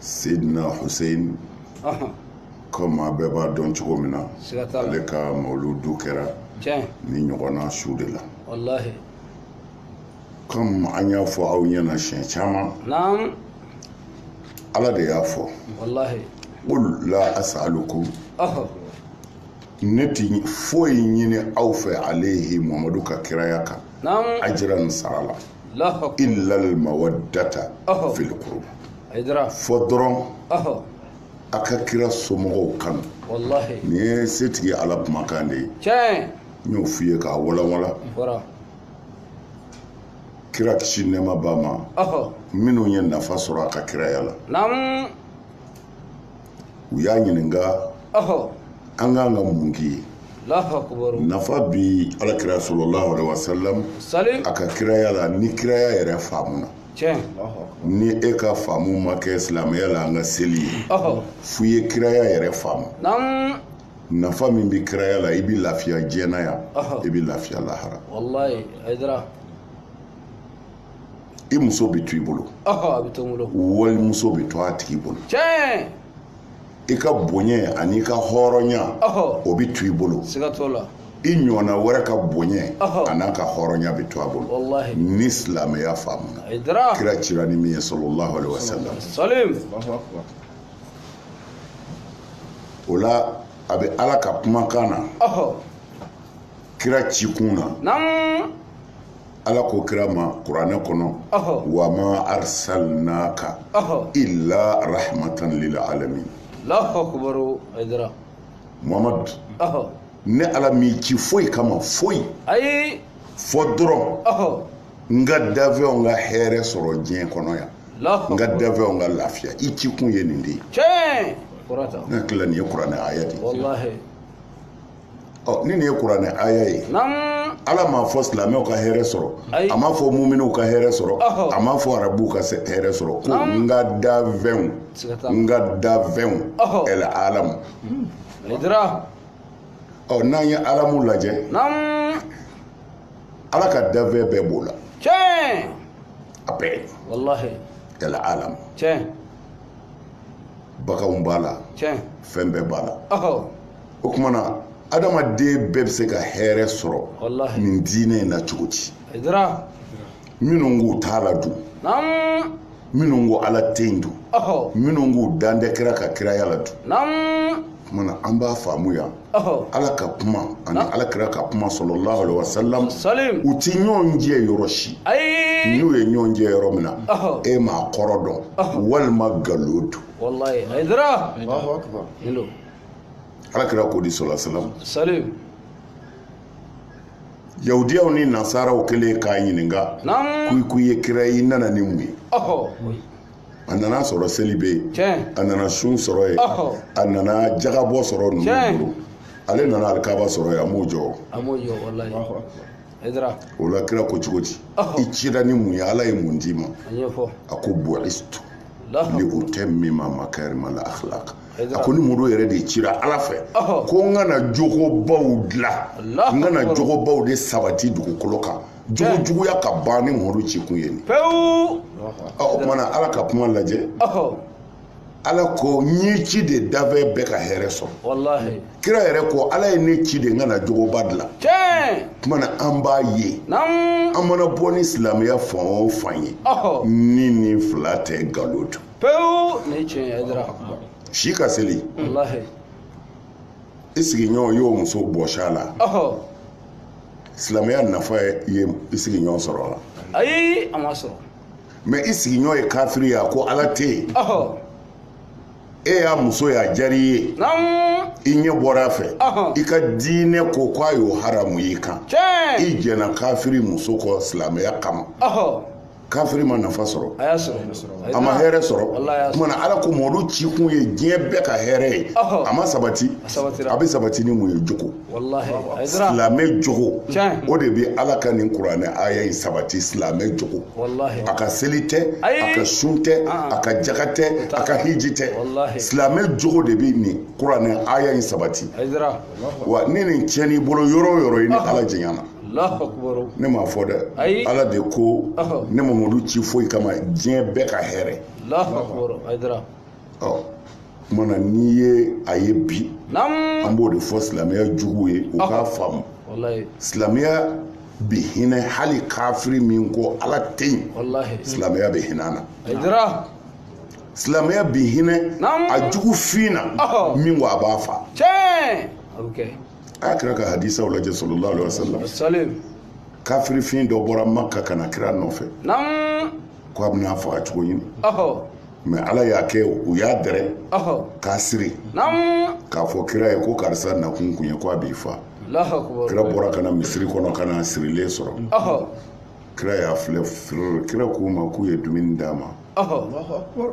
Seydina Hussein comme a bɛɛ b'a dɔn cogo min na ale ka mawuludu kɛra nin ɲɔgɔnna su de la comme an y'a fɔ aw ɲɛna siɲɛ caman ala de y'a fɔ qul la as'alukum ne tɛ foyi ɲini aw fɛ alayhi muhamadu ka kiraya kan ajran sara la illal mawaddata fil qurba fo dɔrɔn a ka kira somɔgɔw kanu nin ye setigi ala kumakan de ye n y'o f'i ye k'a walawala kira kisi nɛɛma b'a ma minnu ye nafa sɔrɔ a ka kiraya la u y'a ɲininka an k'an ka mun k'i ye nafa bi ala kira sallallahu alaihi wasallam a ka kiraya la ni kiraya yɛrɛ faamuna ni e ka faamu ma kɛ silamɛya la an ka seli ye fu ye kiraya yɛrɛ faamu nafa min bɛ kiraya la i bɛ lafiya diɲɛ na yan i bɛ lafiya lahara i muso bɛ to i bolo wali muso bɛ to a tigi bolo i ka bonya ani i ka hɔrɔnya o bɛ to i bolo i ɲɔgɔnna wɛrɛ ka bonya an'a ka hɔrɔnya bɛ to a bolo ni silamɛya faamuna kira cira ni min ye sallallahu alaihi wasallam o la a bɛ ala ka kumakan na kira ci kun na Ala ko kira ma kuranɛ kɔnɔ wa ma arsalnaka illa rahmatan lil alamin mamadu ne ala m'i ci foyi kama foyi ayi fo dɔrɔn n ka dafɛnw ka hɛrɛ sɔrɔ diɲɛ kɔnɔ yan n ka dafɛnw ka lafiya i ci kun ye nin de ye ne hakili la nin ye kuranɛ aya ye dɛ ɔ ni nin ye kuranɛ aya ye naam ala m'a fɔ silamɛw ka hɛrɛ sɔrɔ Ayi. a m'a fɔ muminiw ka hɛrɛ sɔrɔ Ɔhɔ. a m'a fɔ arabuw ka se- hɛrɛ sɔrɔ ko Naam. n ka dafɛnw Siga t'a la. n ka dafɛnw Ɔhɔ. el alamu haidara ɔ n'an ye alamu lajɛ naam ala ka dafɛn bɛɛ b'o la tiɲɛ a bɛɛ wallahi el alamu tiɲɛ baganw b'a la tiɲɛ fɛn bɛɛ b'a la ɔhɔ o kuma na adamaden bɛɛ bɛ se ka hɛrɛ sɔrɔ nin diinɛ in na cogo di minnu k'u t'a la dun minnu ko ala tɛ yen dun minnu k'u dan tɛ kira ka kiraya la dun kuma na an b'a faamu yan ala ka kuma ani ala kira ka kuma sallallahu alaihi wasalam u tɛ ɲɔgɔn jɛ yɔrɔ si n'u ye ɲɔgɔn jɛ yɔrɔ min na e m'a kɔrɔ dɔn walima nkalon don ala kira ko di sallallahu alaihi wasalam yahudiyaw ni nasaraw kɛlen k'a ɲininka ko i ko i ye kira i nana ni mun ye a nana sɔrɔ seli bɛ yen a nana sun sɔrɔ yen a nana jagabɔ sɔrɔ ninnu bolo ale nana alikaba sɔrɔ yen a m'o jɔ a m'o jɔ walayi o la kira ko cogo di i cira ni mun ye ala ye mun d'i ma a ko bu'istu li utammima makarimal akhlaq a ko ne madu yɛrɛ de cira ala fɛ ko n ka na jogobaw dilan n ka na jogobaw de sabati dugukolo kan jogo juguya ka ban ne madu ci kun ye nin ye pewu o kuma na ala ka kuma lajɛ ala ko n y'i ci de danfɛn bɛɛ ka hɛrɛ sɔrɔ kira yɛrɛ ko ala ye ne ci de n ka na jogoba dilan kuma na an b'a ye an mana bɔ ni silamɛya fan o fan ye ni nin fila tɛ nkalon don pewu nin ye tiɲɛ ye dara si ka seli walahi i sigiɲɔgɔn y'o muso bɔsi a la ɔhɔ silamɛya nafa ye i sigiɲɔgɔn sɔrɔ a la ayi a ma sɔrɔ mɛ i sigiɲɔgɔn ye kafiri ye a ko ala tɛ yen ɔhɔ e y'a muso ye a diyara i ye naamu i ɲɛ bɔra a fɛ Ɔhɔn. i ka diinɛ ko k'a y'o haramuya i kan tiɲɛ i jɛna kafiri muso kɔ silamɛya kama ɔhɔ kafiri ma nafa sɔrɔ a y'a sɔrɔ a ma hɛrɛ sɔrɔ o kuma na ala ko madu ci kun ye diɲɛ bɛɛ ka hɛrɛ ye a ma sabati a bɛ sabati ni mun ye jogo silamɛ jogo o de bɛ ala ka nin kuranɛ aya in sabati silamɛ jogo a ka seli tɛ a ka sun tɛ a ka jaga tɛ a ka hiji tɛ silamɛ jogo de bɛ nin kuranɛ aya in sabati wa ni nin tiɲɛn'i bolo yɔrɔ o yɔrɔ i ni ala jɛɲana ne m'a fɔ dɛ ala de ko ne ma madu ci foyi kama diɲɛ bɛɛ ka hɛrɛ o kuma na n'i ye a ye bi an b'o de fɔ silamɛya jugu ye u k'a faamu silamɛya bɛ hinɛ hali kafiri min ko ala tɛ yen silamɛya bɛ hinɛ a na silamɛya bɛ hinɛ a jugu fin na min ko a b'a fa a ye kira ka hadisaw lajɛ sallallahu alaihi wasallam salim kafirifin dɔ bɔra maka ka na kira nɔfɛ naam ko a bɛn'a faga cogo ɲini ɔhɔ mɛ ala y'a kɛ u y'a dɛrɛ ɔhɔ k'a siri naam k'a fɔ kira ye ko karisa nakun kun ye ko a b'i fa alahu akubar kira bɔra ka na misiri kɔnɔ ka n'a sirilen sɔrɔ ɔhɔ kira y'a filɛ firiri kira k'u ma k'u ye dumuni d'a ma ɔhɔ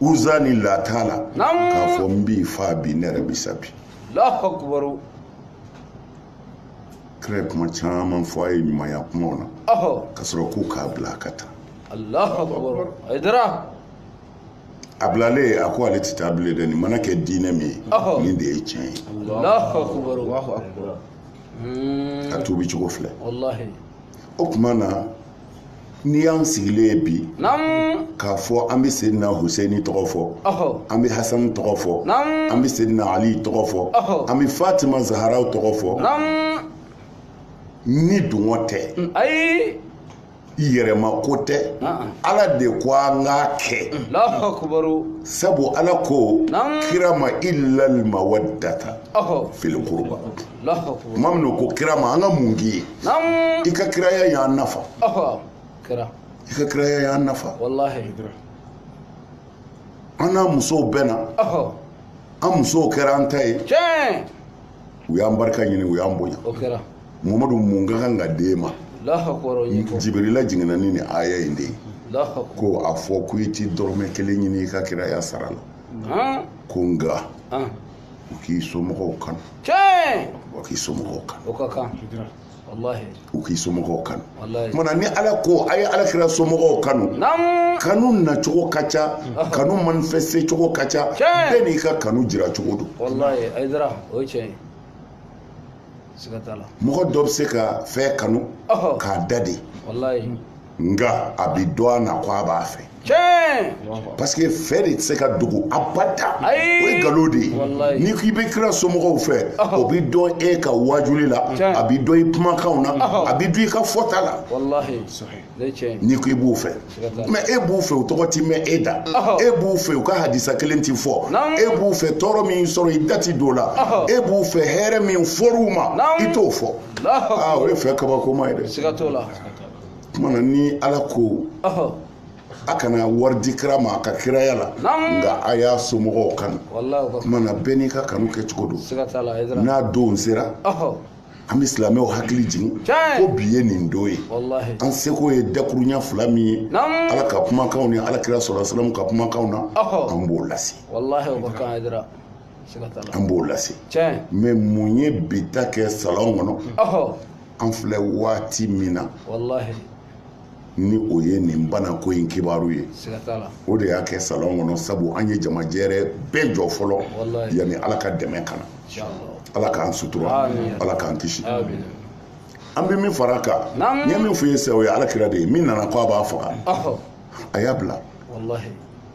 uza ni lata la k'a fɔ n b'i fa bi ne yɛrɛ bi sa bi kira ye kuma caman fɔ a ye ɲumanya kumaw na ka sɔrɔ k'u k'a bila a ka taa a bilalen a ko ale tɛ taa bilen dɛ nin mana kɛ diinɛ min ye nin de ye tiɲɛ ye a tuubi cogo filɛ o tuma na n'i y'an sigilen ye bi k'a fɔ an bɛ sedina huseni tɔgɔ fɔ an bɛ hasani tɔgɔ fɔ an bɛ sedina ali tɔgɔ fɔ an bɛ fatima zaharaw tɔgɔ fɔ ni dungɔ tɛ mm, ayi yɛrɛma ko tɛ ala de ko an k'a kɛ sabu ala ko kira ma illal mawaddata fil qurba tuma min u ko kira ma an ka mun k'i ye i ka kiraya y'an nafa i ka kiraya y'an nafa an n'an musow bɛnna an musow kɛra an ta ye u y'an barika ɲini u y'an bonya mamadu mun ka kan ka d'e ma jibirila jiginna ni nin aya in de ye ko a fɔ ko i ti dɔrɔmɛ kelen ɲini i ka kiraya sara la ko nka u k'i somɔgɔw kanu tiɲɛ u k'i somɔgɔw kanu o ka kan u k'i somɔgɔw kanu kuma na ni ala ko a ye ala kira somɔgɔw kanu kanu nacogo ka ca kanu manifeste cogo ka ca bɛɛ n'i ka kanu jira cogo don mɔgɔ dɔ bɛ se ka fɛn kanu k'a da de nka a bi dɔn a na ko a b'a fɛ tiɲɛ parce que fɛ de tɛ se ka dogo abada o ye nkalon de ye n'i k'i bɛ kira somɔgɔw fɛ o bɛ dɔn e ka waajuli la a bɛ dɔn i kumakanw na a bɛ dɔn i ka fɔta la n'i ko i b'u fɛ mɛ e b'u fɛ u tɔgɔ ti mɛn e da e b'u fɛ u ka hadisa kelen ti fɔ e b'u fɛ tɔɔrɔ min sɔrɔ i da ti don o la e b'u fɛ hɛrɛ min fɔr'u ma i t'o fɔ aa o ye fɛ kabakoma ye dɛ kuma na ni ala ko a kana wari di kira ma a ka kiraya la nka a y'a somɔgɔw kanu kuma na bɛɛ n'i ka kanu kɛ cogo don n'a don sera an bɛ silamɛw hakili jigin ko bi ye nin don ye an seko ye dakurunya fila min ye ala ka kumakanw ni alakira sallallahu alaihi wasallam ka kumakanw na an b'o lase an b'o lase mais mun ye bi ta kɛ salon kɔnɔ an filɛ waati min na ni o ye nin banako in kibaru ye o de y'a kɛ salon kɔnɔ sabu an ye jamajɛrɛ bɛɛ jɔ fɔlɔ yanni ala ka dɛmɛ ka na ala k'an sutura ala k'an kisi an bɛ min fara a kan n ye min fɔ ye sa o ye ala kira de ye min nana ko a b'a faga a y'a bila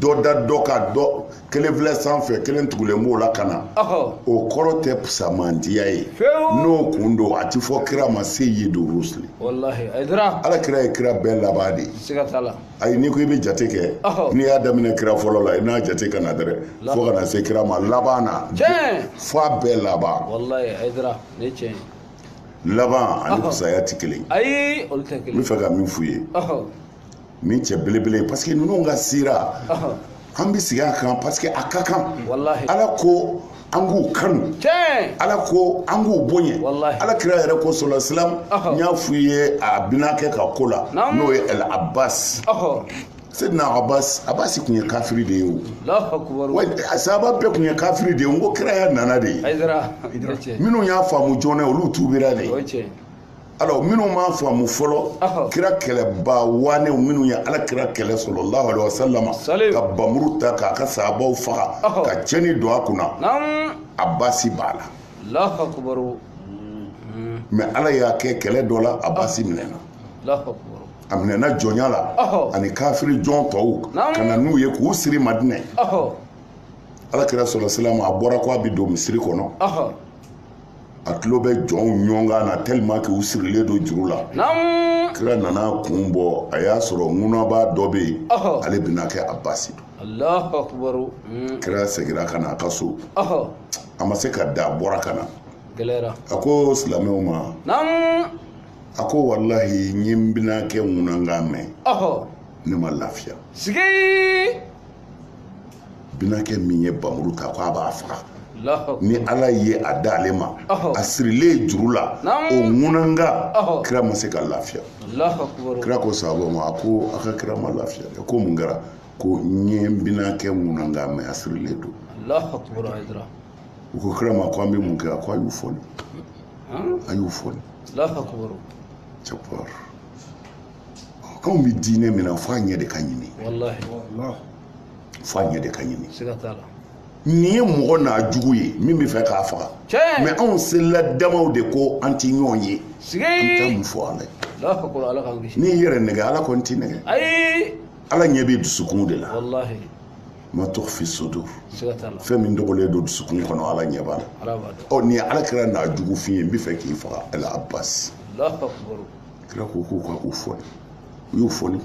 dɔ da dɔ kan dɔ kelen filɛ sanfɛ kelen tugulen b'o la ka na o kɔrɔ tɛ fusamantiya ye n'o kun don a ti fɔ kira ma seyidu rusuli ala kira ye kira bɛɛ laban de ye ayi n'i ko i bɛ jate kɛ n'i y'a daminɛ kira fɔlɔ la i n'a jate ka na dɛrɛ fo ka na se kira ma laban na fo a bɛɛ laban laban ani fusaya tɛ kelen ye n bɛ fɛ ka min f'u ye nin cɛ belebele ye parce que ninnu ka sira an bɛ sigi a kan parce que a ka kan ala ko an k'u kanu ala ko an k'u bonya ala kira yɛrɛ ko sola silam n y'a f'u ye a binankɛ ka ko la n'o ye el abbas sedina abbas abbas kun ye kafiri de ye o a sahaba bɛɛ kun ye kafiri de ye n ko kiraya nana de ye minnu y'a faamu joona olu tuubira de ye alors minnu m'a faamu fɔlɔ kira kɛlɛbaa waanew minnu ye ala kira kɛlɛ sallallahu alaihi wasalama ka bamuru ta k'a ka sahabaw faga ka cɛni don a kunna abasi b'a la mais ala y'a kɛ kɛlɛ dɔ la abasi minɛna a minɛna jɔnya la ani kafiri jɔn tɔw ka na n'u ye k'u siri madinɛ ala kira sɔlɔ silama a bɔra ko a bɛ don misiri kɔnɔ a tulo bɛ jɔnw ŋunankan na tellement que u sirilen don juru la naamu kira nana kun bɔ a y'a sɔrɔ ŋunabaa dɔ bɛ yen Ɔhɔ. ale binankɛ abasi don alahu akubaru Mm, kira segira ka na a ka so ɔhɔ a ma se ka da a bɔra ka na gɛlɛyara a ko silamɛw ma naamu a ko walahi n ye n binankɛ ŋunankan mɛn ɔhɔ ne ma lafiya sigi binankɛ min ye bamuru ta ko a b'a faga ni ala ye a da ale ma a sirilen juru la o ŋunankan kira ma se ka lafiya kira ko sahaba ma a ko aw ka kira ma lafiya ko mun kɛra ko n ye n binankɛ ŋunankan mɛn a sirilen don u ko kira ma ko an bɛ mun kɛ a ko a y'u foni a y'u foni cɛkɔrɔ anw bɛ diinɛ min na fo a ɲɛ de ka ɲini fo a ɲɛ de ka ɲini nin ye mɔgɔ n'a jugu ye min bɛ fɛ k'a faga mɛ anw selila damaw de ko an tɛ ɲɔgɔn ye an bɛ taa mun fɔ ala ye n'i y'i yɛrɛ nɛgɛ ala kɔni t'i nɛgɛ ala ɲɛ bɛ dusukun de la ma tukhfi sudur fɛn min dogolen don dusukun kɔnɔ ala ɲɛ b'a la ɔ nin ye ala kira n'a jugu f'i ye n bɛ fɛ k'i faga al abasi kira ko k'u ka u foni u y'u foni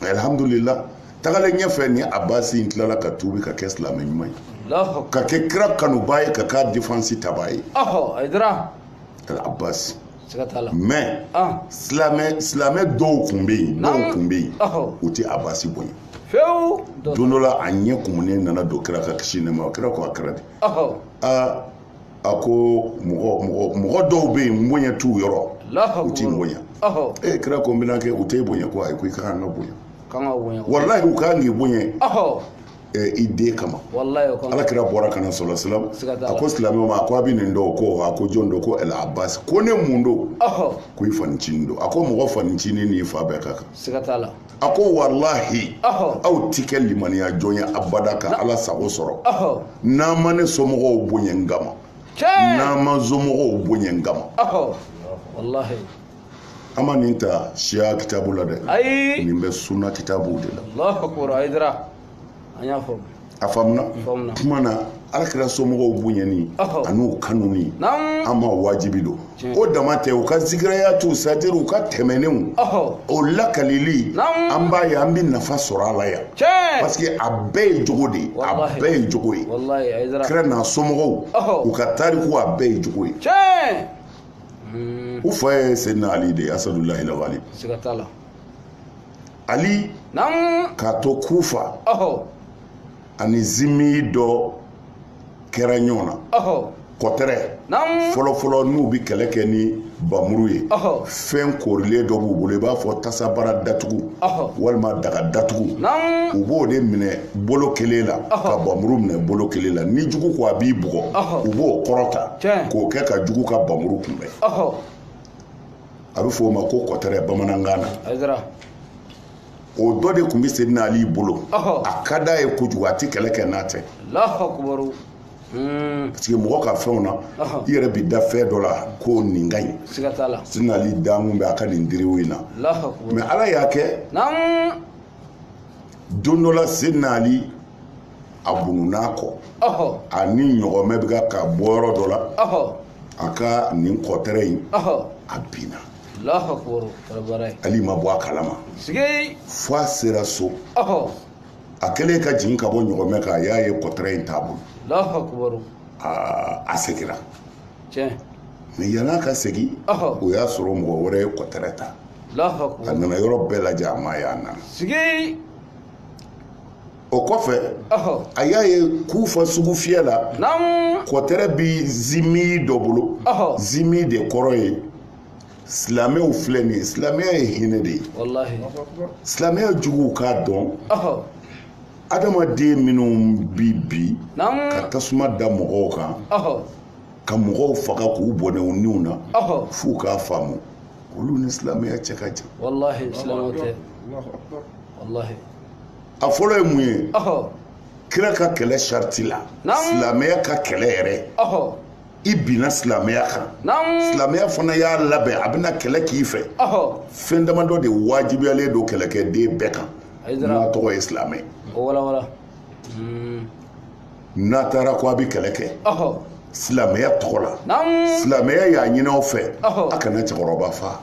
alhamdulila tagalen ɲɛfɛ ni abasi in tilala ka tuubi ka kɛ silamɛ ɲuman ye ka kɛ kira kanubaa ye ka k'a defansi tabaa ye abasi mɛ silamɛ silamɛ dɔw tun bɛ yen dɔw tun bɛ yen u tɛ abasi bonya fewu don dɔ la a ɲɛ kumunen nana don kira kan kisi nɛɛma kira ko a kɛra di aa a ko mɔgɔ mɔgɔ mɔgɔ dɔw bɛ yen bonya t'u yɔrɔ u t'i bonya ee kira ko n binaakɛ u t'e bonya ko ayi ko i ka kan ka bonya walayi u ka kan k'i bonya i den kama ala kira bɔra ka na salla salam a ko silamɛw ma a ko aw bɛ nin dɔn ko a ko jɔn don ko al abasi ko ne mun don ko i fanicinin don a ko mɔgɔ fanicinin n'i fa bɛɛ ka kan a ko walahi aw tɛ kɛ limaniya jɔn ye abada ka ala sago sɔrɔ n'aw ma ne somɔgɔw bonya n kama n'aw ma n somɔgɔw bonya n kama an ma nin ta siya kitabu la dɛ nin bɛ suna kitabu de la an y'a fɔ a faamuna kuma na ala kira somɔgɔw bonyani an'u kanuni an ma wajibi don o dama tɛ u ka zikirayatu c'est-à-dire u ka tɛmɛnenw o lakalili an b'a ye an bɛ nafa sɔrɔ a la yan parce que a bɛɛ ye jogo de ye a bɛɛ ye jogo ye kira n'a somɔgɔw u ka tariku a bɛɛ ye jogo ye u fa ye seyidina ali de ye asadulahi lawali ali k'a to kufa ani zimi dɔ kɛra ɲɔgɔn na kɔtɛrɛ fɔlɔfɔlɔ n'u bɛ kɛlɛ kɛ ni bamuru ye fɛn korilen dɔ b'u bolo i b'a fɔ tasabara datugu walima daga datugu u b'o de minɛ bolo kelen la ka bamuru minɛ bolo kelen la ni jugu ko a b'i bugɔ u b'o kɔrɔta k'o kɛ ka jugu ka bamuru kunbɛn a bɛ f'o ma ko kɔtɛrɛ bamanankan na Aidara o dɔ de tun bɛ Seydina Ali bolo Ɔhɔ. a ka d'a ye kojugu a tɛ kɛlɛ kɛ n'a tɛ Alahu akubaru Hmm, parce que mɔgɔ ka fɛnw na Ɔhɔ. i yɛrɛ bɛ da fɛn dɔ la ko nin ka ɲi siga t'a la Seydina Ali dalen tun bɛ a ka nin diriu in na Alahu akubaru mɛ Ala y'a kɛ naamu don dɔ la Seydina Ali a bununn'a kɔ a ni ɲɔgɔmɛ bɛ ka ka bɔ yɔrɔ dɔ la a ka nin kɔtɛrɛ in a binna ali ma bɔ a kalama fo a sera so a kɛlen ka jigin ka bɔ ɲɔgɔmɛ kan a y'a ye kɔtɛrɛ in t'a bolo a segira mɛ yann'a ka segin o y'a sɔrɔ mɔgɔ wɛrɛ ye kɔtɛrɛ ta a nana yɔrɔ bɛɛ lajɛ a m'a ye a nana o kɔfɛ a y'a ye kufa sugufiyɛ la kɔtɛrɛ bɛ zimi dɔ bolo zimi de kɔrɔ ye silamɛw filɛ nin ye silamɛya ye hinɛ de ye silamɛya juguw k'a dɔn adamaden minnu bi bi ka tasuma da mɔgɔw kan ka mɔgɔw faga k'u bɔnɛ u niw na f'u k'a faamu olu ni silamɛya cɛ ka jan a fɔlɔ ye mun ye kira ka kɛlɛ sariti la silamɛya ka kɛlɛ yɛrɛ i binna silamɛya kan silamɛya fana y'a labɛn a bɛna kɛlɛ k'i fɛ fɛn damadɔ de wajibiyalen don kɛlɛkɛden bɛɛ kan n'a tɔgɔ ye silamɛ n'a taara ko a bɛ kɛlɛ kɛ silamɛya tɔgɔ la silamɛya y'a ɲin'a fɛ a kana cɛkɔrɔba fa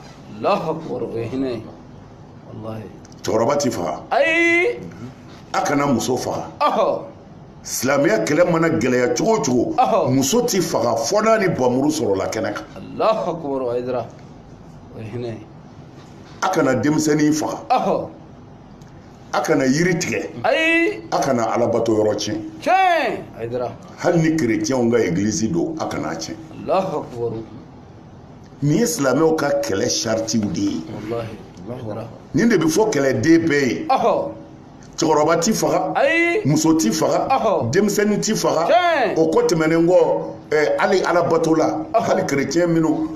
cɛkɔrɔba tɛ faga ayi a kana muso faga silamɛya kɛlɛ mana gɛlɛya cogo o cogo muso tɛ faga fɔ n'a ni bamuru sɔrɔla kɛnɛ kan a kana denmisɛnnin faga a kana yiri tigɛ ayi a kana alabato yɔrɔ tiɲɛ tiɲɛ hali ni kerecɛnw ka egilizi don a kana a tiɲɛ nin ye silamɛw ka kɛlɛ saritiw de ye nin de bɛ fɔ kɛlɛden bɛɛ ye cɛkɔrɔba ti faga muso ti faga denmisɛnnin ti faga o ko tɛmɛnen kɔ hali alabatola hali kerecɛn minnu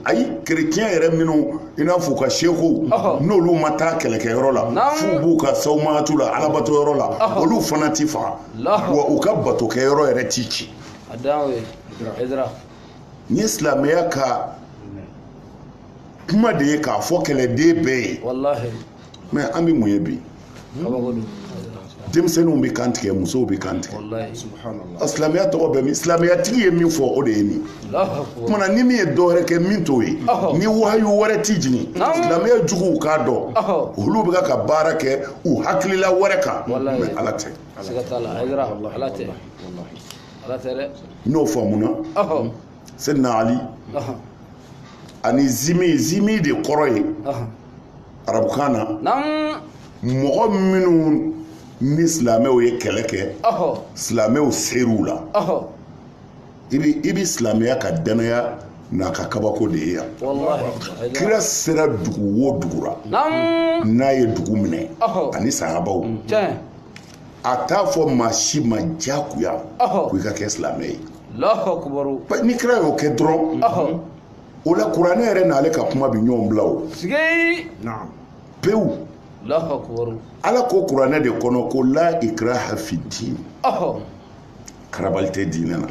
ayi kerecɛn yɛrɛ minnu i n'a fɔ u ka sekow n'olu ma taa kɛlɛkɛyɔrɔ la f'u b'u ka sawumatu la alabato yɔrɔ la olu fana ti faga wa u ka batokɛyɔrɔ yɛrɛ ti ci nin ye silamɛya ka kuma de ye k'a fɔ kɛlɛden bɛɛ ye walahi mɛ an bɛ mun ye bi kabako don denmisɛnninw bɛ kantigɛ musow bɛ kantigɛ walahi a silamɛya tɔgɔ bɛ min silamɛyatigi ye min fɔ o de ye nin Allahu akbar. kumana ni min ye dɔ wɛrɛ kɛ min t'o ye Ɔhɔ. ni wahayu wɛrɛ tɛ jigin Naamu. silamɛya juguw k'a dɔn Ɔhɔ. olu bɛ ka ka baara kɛ u hakilila wɛrɛ kan Walahi. mɛ ala tɛ n'o faamuna sɛdina ali ani zimi zimi de kɔrɔ ye arabukan na mɔgɔ minnu ni silamɛw ye kɛlɛ kɛ silamɛw ser'u la i bɛ i bɛ silamɛya ka dannaya n'a ka kabako de ye yan kira sera dugu o dugu la n'a ye dugu minɛ ani sahabaw a t'a fɔ maa si ma diyagoya ko i ka kɛ silamɛ ye ni kira y'o kɛ dɔrɔn o la kuranɛ yɛrɛ n'ale ka kuma bɛ ɲɔgɔn bila o pewu ala ko kuranɛ de kɔnɔ ko la ikraha fi diin karabali tɛ diinɛ na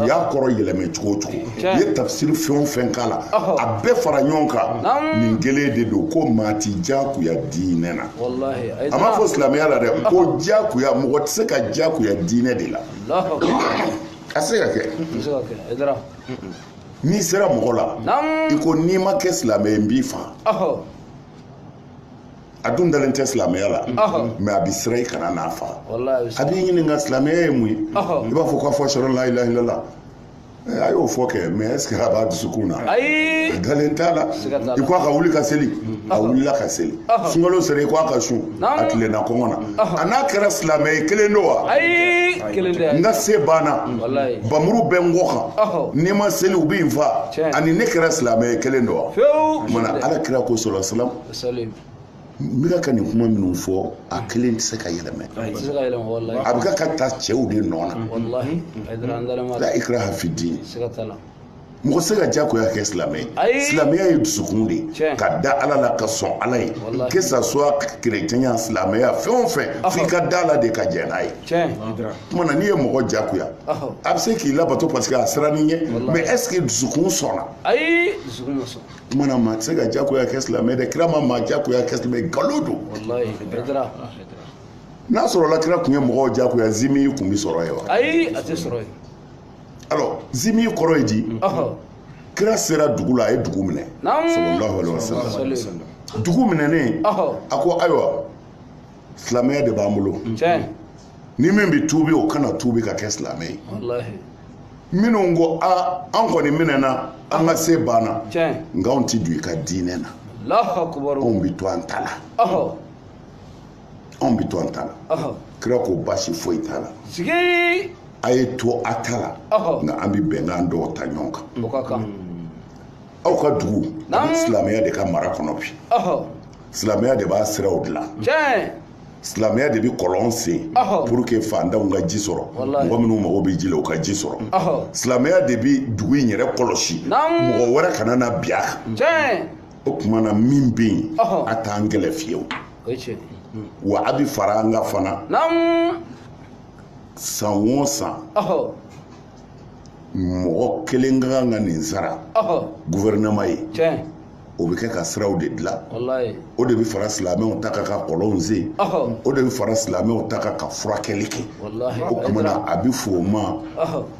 u y'a kɔrɔ yɛlɛmɛ cogo o cogo u ye tafsiri fɛn o fɛn k'a la a bɛɛ fara ɲɔgɔn kan nin kelen de don ko maa ti diyagoya diinɛ na a m'a fɔ silamɛya la dɛ ko diyagoya mɔgɔ tɛ se ka diyagoya diinɛ de la a se ka kɛ n'i sera mɔgɔ la i ko n'i ma kɛ silamɛ ye n b'i fa a dun dalen tɛ silamɛya la mais a bɛ siran i kana n'a faga a b'i ɲininka silamɛya ye mun ye i b'a fɔ k'a fɔ ashhadu an la ilaha illallah eh, a y'o fɔ kɛ mais est ce que a b'a dusukun na ayi a dalen t'a la i ko a ka wuli ka seli a wulila ka seli sunkalo sera i ko a ka sun a tilenna kɔngɔ na a n'a kɛra silamɛ ye kelen don wa ayi kelen tɛ n ka se banna bamuru bɛ n kɔ kan ni n ma seli u bi n fa ani ne kɛra silamɛ ye kelen don wa o kuma na ala kira ko sallallahu alaihi wasallam Salim n bɛ ka nin kuma minnu fɔ a kelen tɛ se ka yɛlɛmɛ a tɛ se ka yɛlɛma walahi a bɛ ka ka ta cɛw de nɔ na walahi a ye dara an dalen ma la dɛ ikraha fi din siga t'a la mɔgɔ tɛ se ka jagoya kɛ silamɛ ye Ayi. silamɛya ye dusukun de ye Tiɲɛ. ka da ala la ka sɔn ala ye Walahi. que ça soit kerecɛnya silamɛya fɛn o fɛn f'i ka d'a la de ka jɛn n'a ye tiɲɛ kuma na n'i ye mɔgɔ jagoya Ɔhɔ. a bɛ se k'i labato parce que a sirann'i ɲɛ Walahi. mais est ce que dusukun sɔnna ayi dusukun ma sɔn kuma na maa tɛ se ka jagoya kɛ silamɛ dɛ kira ma maa jagoya kɛ silamɛ nkalon don n'a sɔrɔla kira tun ye mɔgɔw jagoya zimi kun bɛ sɔrɔ yen wa ayi a tɛ sɔrɔ yen alors zimi kɔrɔ ye di kira sera dugu la a ye dugu minɛ sallallahu alaihi wasallam dugu minɛnen a ko ayiwa silamɛya de b'an bolo ni min bɛ tuubi o ka na tuubi ka kɛ silamɛ ye minnu ko a an kɔni minɛna an ka se banna nka anw tɛ don i ka diinɛ na anw bɛ to an ta la anw bɛ to an ta la kira ko baasi foyi t'a la a ye to a ta la nka an bɛ bɛnkan dɔw ta ɲɔgɔn kan aw ka dugu silamɛya de ka mara kɔnɔ bi silamɛya de b'a siraw dilan silamɛya de bɛ kɔlɔn sen pour que fantanw ka ji sɔrɔ mɔgɔ minnu mago bɛ ji la u ka ji sɔrɔ silamɛya de bɛ dugu in yɛrɛ kɔlɔsi mɔgɔ wɛrɛ kana na bin a kan o tuma na min bɛ yen a t'an kɛlɛ fiyewu wa a bɛ fara an kan fana san o san mɔgɔ kelen ka kan ka nin sara gouvernement ye o bɛ kɛ ka siraw de dilan o de bɛ fara silamɛw ta kan ka kɔlɔnw sen o de bɛ fara silamɛw ta kan ka furakɛli kɛ o tuma na a bɛ fɔ o ma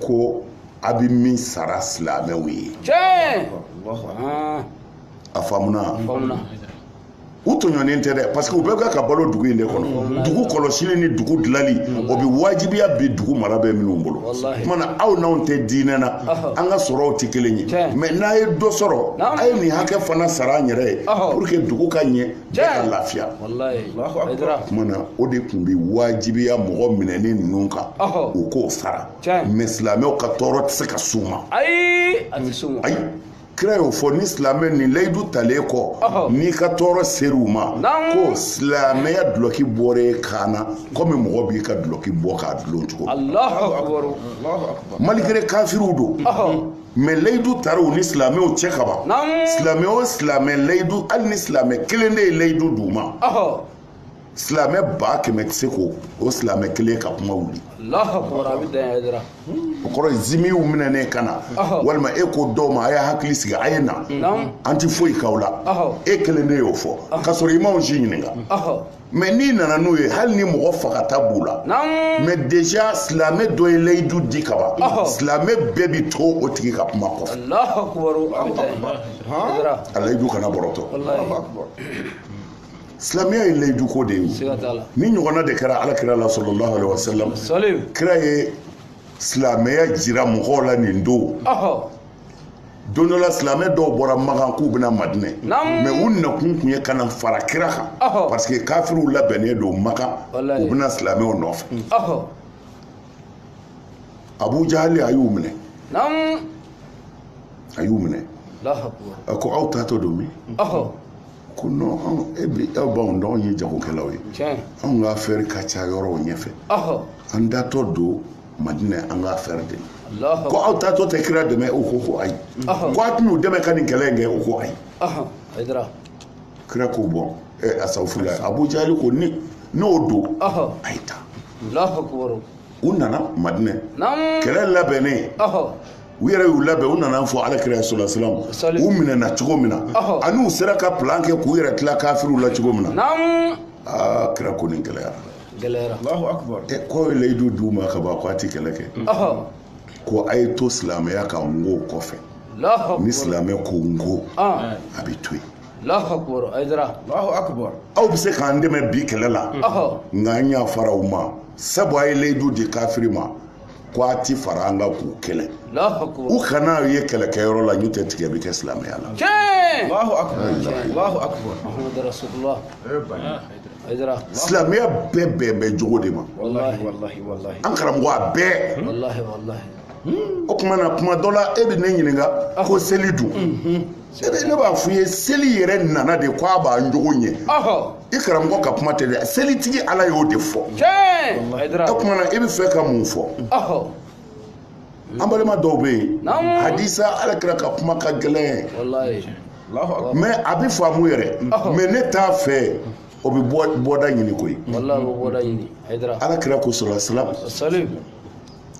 ko a bɛ min sara silamɛw ye a faamuna u tɔɲɔnen tɛ dɛ parce que u bɛɛ bɛ ka balo dugu in de kɔnɔ dugu kɔlɔsili ni dugu dilali o bɛ wajibiya bi dugu mara bɛ minnu bolo o tuma na aw n'anw tɛ diinɛ na an ka sɔrɔw tɛ kelen ye mais n'a ye dɔ sɔrɔ a ye nin hakɛ fana sara an yɛrɛ ye pour que dugu ka ɲɛ bɛɛ ka lafiya o tuma na o de tun bɛ wajibiya mɔgɔ minɛnen ninnu kan u k'o sara mais silamɛw ka tɔɔrɔ tɛ se ka s'u ma ayi kira y'o fɔ ni silamɛ ni layidu talen kɔ n'i ka tɔɔrɔ ser'u ma ko silamɛya dulɔki bɔra e kan na komi mɔgɔ b'i ka dulɔki bɔ k'a dulon cogo malgré kafiriw don mais layidu taara u ni silamɛw cɛ kaban silamɛ o silamɛ layidu hali ni silamɛ kelen de ye layidu d'u ma silamɛ ba kɛmɛ tɛ se k'o silamɛ kelen ka kuma wuli o kɔrɔ ye zimiw minɛnen ka na walima e ko dɔw ma a y'a hakili sigi a ye na an tɛ foyi k'aw la e kelen de y'o fɔ k'a sɔrɔ i m'anw si ɲininka mais n'i nana n'u ye hali ni mɔgɔ fagata b'u la mais déjà silamɛ dɔ ye layidu di ka ban silamɛ bɛɛ bi to o tigi ka kuma kɔfɛ a layidu kana bɔrɔtɔ silamɛya ye layiduko de ye nin ɲɔgɔnna de kɛra ala kira la sallallahu alaihi wasallam kira ye silamɛya jira mɔgɔw la nin don don dɔ la silamɛ dɔw bɔra makan k'u bɛ na madinɛ mais u nakun tun ye ka na fara kira kan parce que kafiriw labɛnnen don makan u bɛ na silamɛw nɔfɛ abu jahali a y'u minɛ a y'u minɛ a ko aw taatɔ don min ko non e bi aw b'anw dɔn anw ye jagokɛlaw ye anw ka affaire ka ca yɔrɔw ɲɛfɛ an taatɔ don madina an ka affaire de ko aw taatɔ tɛ kira dɛmɛ u ko ko ayi ko a tɛna u dɛmɛ ka nin kɛlɛ in kɛ u ko ayi kira ko bon asafurulayi abu jahali ko ni o don a ye taa u nana madinɛ kɛlɛ labɛnnen u yɛrɛ y'u labɛn u nana fɔ ala kira solasalam u minɛna cogo min na ani u sera ka plan kɛ k'u yɛrɛ tila kafiriw la cogo min na aa kira ko nin gɛlɛyara gɛlɛyara k'o ye layidu d'u ma ka ban ko a ti kɛlɛ kɛ ko a ye to silamɛya ka n ko kɔfɛ ni silamɛ ko n ko a bɛ to yen aw bɛ se k'an dɛmɛ bi kɛlɛ la nka an yafara u ma sabu a ye layidu di kafiri ma ko a ti fara an kan k'u kɛlɛ u kan'a ye kɛlɛkɛyɔrɔ la n'o tɛ tigɛ bɛ kɛ silamɛya la silamɛya bɛɛ bɛn bɛ jogo de ma an karamɔgɔ a bɛɛ hmm. o tuma na kuma dɔ la e bɛ ne ɲininka ah. ko seli dun mhm. e bɛ ne b'a f'i ye seli yɛrɛ nana de ko a b'an jogo ɲɛ i karamɔgɔ ka kuma tɛ dɛ selitigi ala y'o de fɔ o tuma na e bɛ fɛ ka mun fɔ an balima dɔw bɛ yen hadisa ala kira ka kuma ka gɛlɛn mais a bɛ faamu yɛrɛ mais ne t'a fɛ o bɛ bɔda ɲini koyi ala kira ko solasalam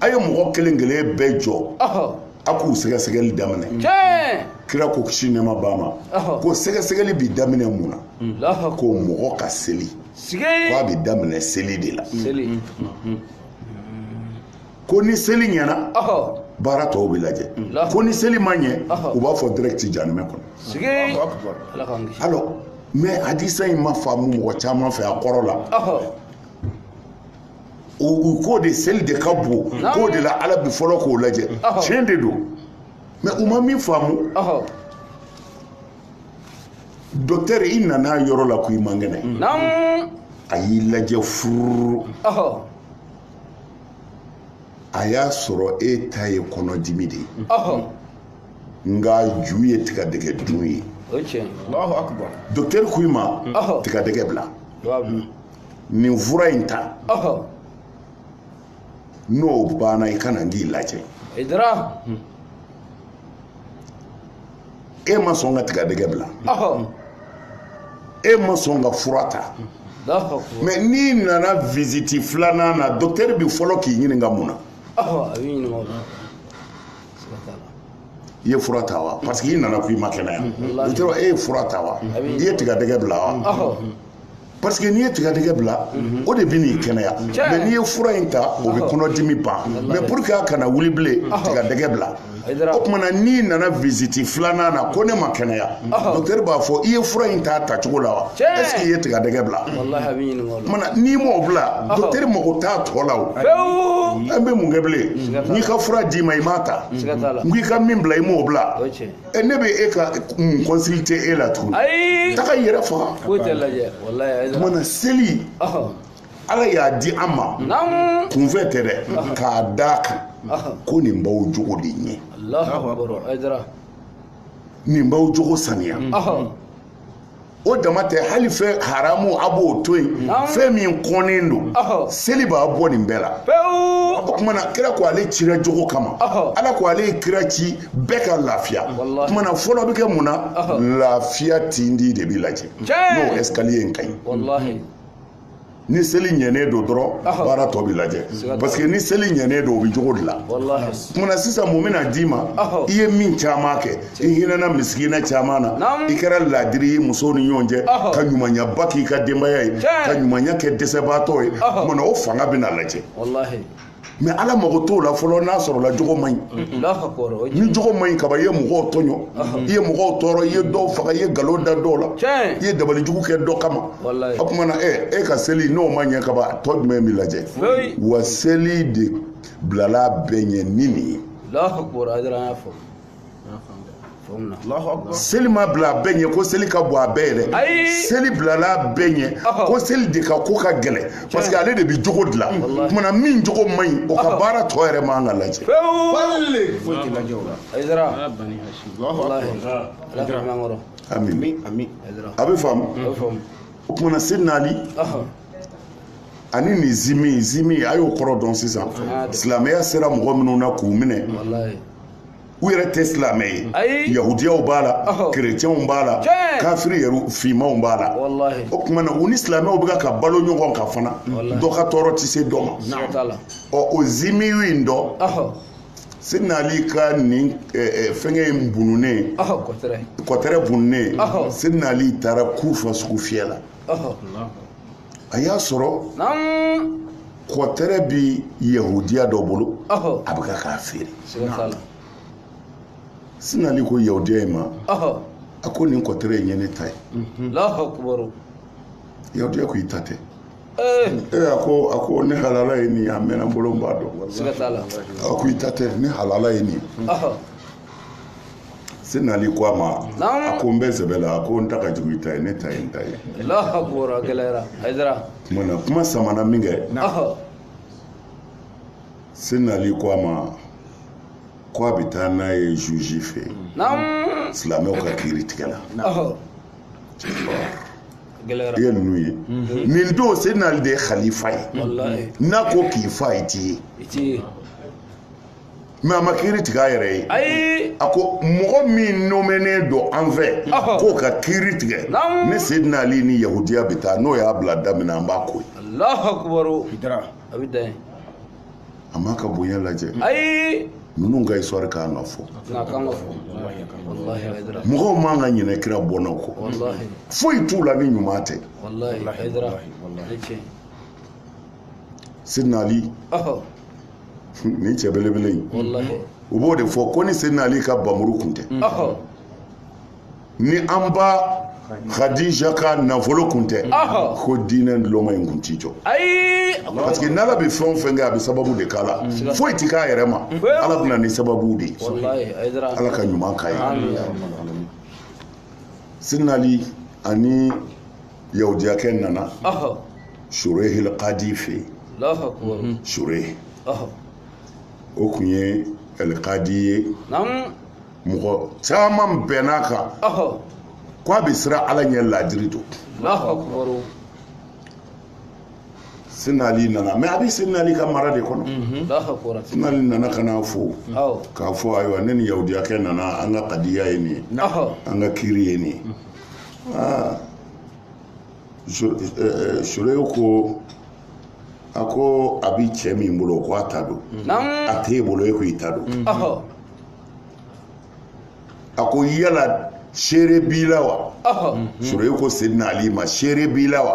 a ye mɔgɔ kelen kelen bɛɛ jɔ a k'u sɛgɛsɛgɛli daminɛ kira ko kisi nɛɛma b'a ma ko sɛgɛsɛgɛli bi daminɛ mun na mm. ko mɔgɔ ka seli ko a bi daminɛ seli de la mm, mm, ko ni seli ɲɛna baara tɔw bɛ lajɛ ko ni seli ma ɲɛ u b'a fɔ direct janimɛ kɔnɔ alors mais hadisa in ma faamu mɔgɔ caman fɛ a kɔrɔ la u k'o de seli de ka bon k'o de la ala bi fɔlɔ k'o lajɛ tiɲɛ de don mais u ma min faamu docteur i nana yɔrɔ la ko i man kɛnɛ a y'i lajɛ furu a y'a sɔrɔ e ta ye kɔnɔdimi de ye nka ju ye tigadɛgɛ dun ye docteur ko i ma tigadɛgɛ bila nin fura in ta n'o banna i ka na n k'i lajɛ e taara e ma sɔn ka tigadɛgɛ bila e ma sɔn ka fura ta mais n'i nana visite filanan na docteur bi fɔlɔ k'i ɲininka mun na i ye fura ta wa parce que i nana ko i ma kɛnɛya docteur e ye fura ta wa i ye tigadɛgɛ bila wa parce que n'i ye tigadɛgɛ bila o de bɛ n'i kɛnɛya mais n'i ye fura in ta o bɛ kɔnɔdimi ban mais pour que a kana wuli bilen tigadɛgɛ bila o tuma na n'i nana visite filanan na ko ne ma kɛnɛya docteur b'a fɔ i ye fura in ta tacogo la wa est ce que i ye tigadɛgɛ bila o tuma na n'i m'o bila docteur mago t'a tɔ la o an bɛ mun kɛ bilen n'i ka fura d'i ma i m'a ta n ko i ka min bila i m'o bila e ne bɛ e ka mun consulter e la tuguni ayi taga i yɛrɛ faga foyi tɛ lajɛ walayi o tuma na seli ala y'a di an ma kunfɛ tɛ dɛ k'a d'a kan ko nin b'aw jogo de ɲɛ nin b'aw jogo saniya o dama tɛ hali fɛn haramu a b'o to yen fɛn min kɔnnen don seli b'a bɔ nin bɛɛ la o tuma na kira ko ale cira jogo kama ala ko ale ye kira ci bɛɛ ka lafiya o tuma na fɔlɔ bɛ kɛ mun na lafiya tindi de bɛ lajɛ n'o escalier in ka ɲi ni seli ɲɛnen don dɔrɔn baara tɔ bɛ lajɛ parce que ni seli ɲɛnen don o bɛ jogo dilan o tuma na sisan mun bɛna d'i ma i ye min caman kɛ i hinɛna misikina caman na i kɛra laadiri ye musow ni ɲɔgɔn cɛ ka ɲumanyaba k'i ka denbaya ye ka ɲumanya kɛ dɛsɛbaatɔ ye o tuma na o fanga bɛna lajɛ mais ala mago t'o la fɔlɔ n'a sɔrɔla jogo man ɲi ni jogo man ɲi kaban i ye mɔgɔw tɔɲɔ i ye mɔgɔw tɔɔrɔ i ye dɔw faga i ye nkalon da dɔw la i ye dabali jugu kɛ dɔ kama o tuma na ɛ e ka seli n'o ma ɲɛ kaban tɔ jumɛn bɛ lajɛ wa seli de bilala bɛɛ ɲɛ ni nin ye seli ma bila a bɛɛ ɲɛ ko seli ka bon a bɛɛ ye dɛ seli bilala a bɛɛ ɲɛ ko seli de ka ko ka gɛlɛn parce que ale de bɛ jogo dilan o tuma na min jogo man ɲi o ka baara tɔ yɛrɛ man ka lajɛ a bɛ faamu o tuma na sidina ali ani nin zimi zimi a y'o kɔrɔ dɔn sisan silamɛya sera mɔgɔ minnu na k'u minɛ u yɛrɛ tɛ silamɛ ye yahudiyaw b'a la kerecɛnw b'a la kafiri yɛrɛ fimanw b'a la o tuma na u ni silamɛw bɛ ka balo ɲɔgɔn kan fana dɔ ka tɔɔrɔ tɛ se dɔ ma ɔ o zimiw in dɔ sidina ali ka nin fɛnkɛ in bununen kɔtɛrɛ bununen sidina ali taara kufa sugufiyɛ la a y'a sɔrɔ kɔtɛrɛ bɛ yahudiya dɔ bolo a bɛ ka k'a feere sidina ali ko yahudiya in ma a ko nin kɔtɛrɛ in ye ne ta ye mhm. yahudiya ko i ta tɛ eh. ee a ko a ko ne halala ye nin ye a mɛnna n bolo n b'a dɔn a ko i ta tɛ ne halala ye nin ye sedina ali ko a ma a ko n bɛ sɛbɛ la a ko n ta ka jugu i ta ye ne ta ye n ta ye tuma na kuma samana min kɛ sedina ali ko a ma ko a bɛ taa n'a ye juge fɛ yen silamɛw ka kiritigɛla i ye ninnu ye nin don sedina ali de ye khalifa ye n'a ko k'i fa ye t'i ye mais a ma kiri tigɛ a yɛrɛ ye ayi a ko mɔgɔ min nomɛnen don an fɛ k'o ka kiri tigɛ ne sedina ali ni yahudiya bɛ taa n'o y'a bila da min na an b'a ko ye alahu akubaru a bɛ dan ye a m'a ka bonya lajɛ ayi ninnu ka histoire ka kan ka fɔ mɔgɔw man ka ɲinɛ kira bɔnnaw kɔ foyi t'u la ni ɲuman tɛ sidina ali ni cɛ belebele in u b'o de fɔ ko ni sedina ali ka bamuru kun tɛ ni an ba Khadija ka nafolo kun tɛ ko diinɛ ntuloma in kun t'i jɔ parce que n'ala bɛ fɛn o fɛn kɛ a bɛ sababu de k'a la foyi tɛ k'a yɛrɛ ma ala bɛ na ni sababu de ye ala ka ɲuman k'a ye sedina ali ani yahudiyakɛ nana shurayh alkadi fɛ yen shurayh o kun ye alkadi ye mɔgɔ caman bɛnn'a kan k' a bɛ siran ala ɲɛ laadiri don sedina ali nana mais a bɛ sedina ali ka mara de kɔnɔ sedina ali nana ka n'a fo k'a fɔ ayiwa ne ni yahudiyakɛ nana an ka kadiya ye nin ye an ka kiri ye nin ye shurayh ko a ko a bɛ cɛ min bolo ko a ta don a t'e bolo e ko i ta don a ko yala seere b'i la wa shurayh ko sedina ali ma seere b'i la wa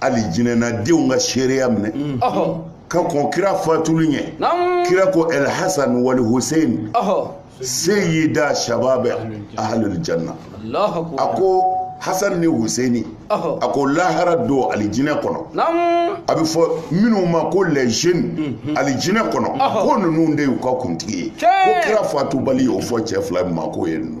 alijinɛnadenw ka seereya minɛ ka kɔn kira fatuli ɲɛ kira ko el hasan wal hussein seyida shababɛ ahlul janna a ko hasan ni huseini a ko lahara don alijinɛ kɔnɔ a bɛ fɔ minnu ma ko les jeunes mhm. alijinɛ kɔnɔ ko ninnu de y'u ka kuntigi ye ko kira fatubali y'o fɔ cɛ fila ma k'o ye ninnu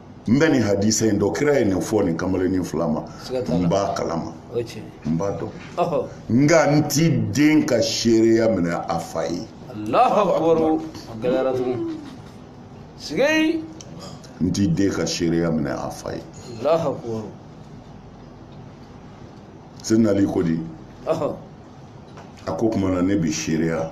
n bɛ nin hadisa in dɔn kira ye nin fɔ nin kamalennin fila ma n b'a kalama n b'a dɔn nka n ti den ka seereya minɛ a fa ye n ti den ka seereya minɛ a fa ye seydina ali ko di a ko o tuma na ne bi seereya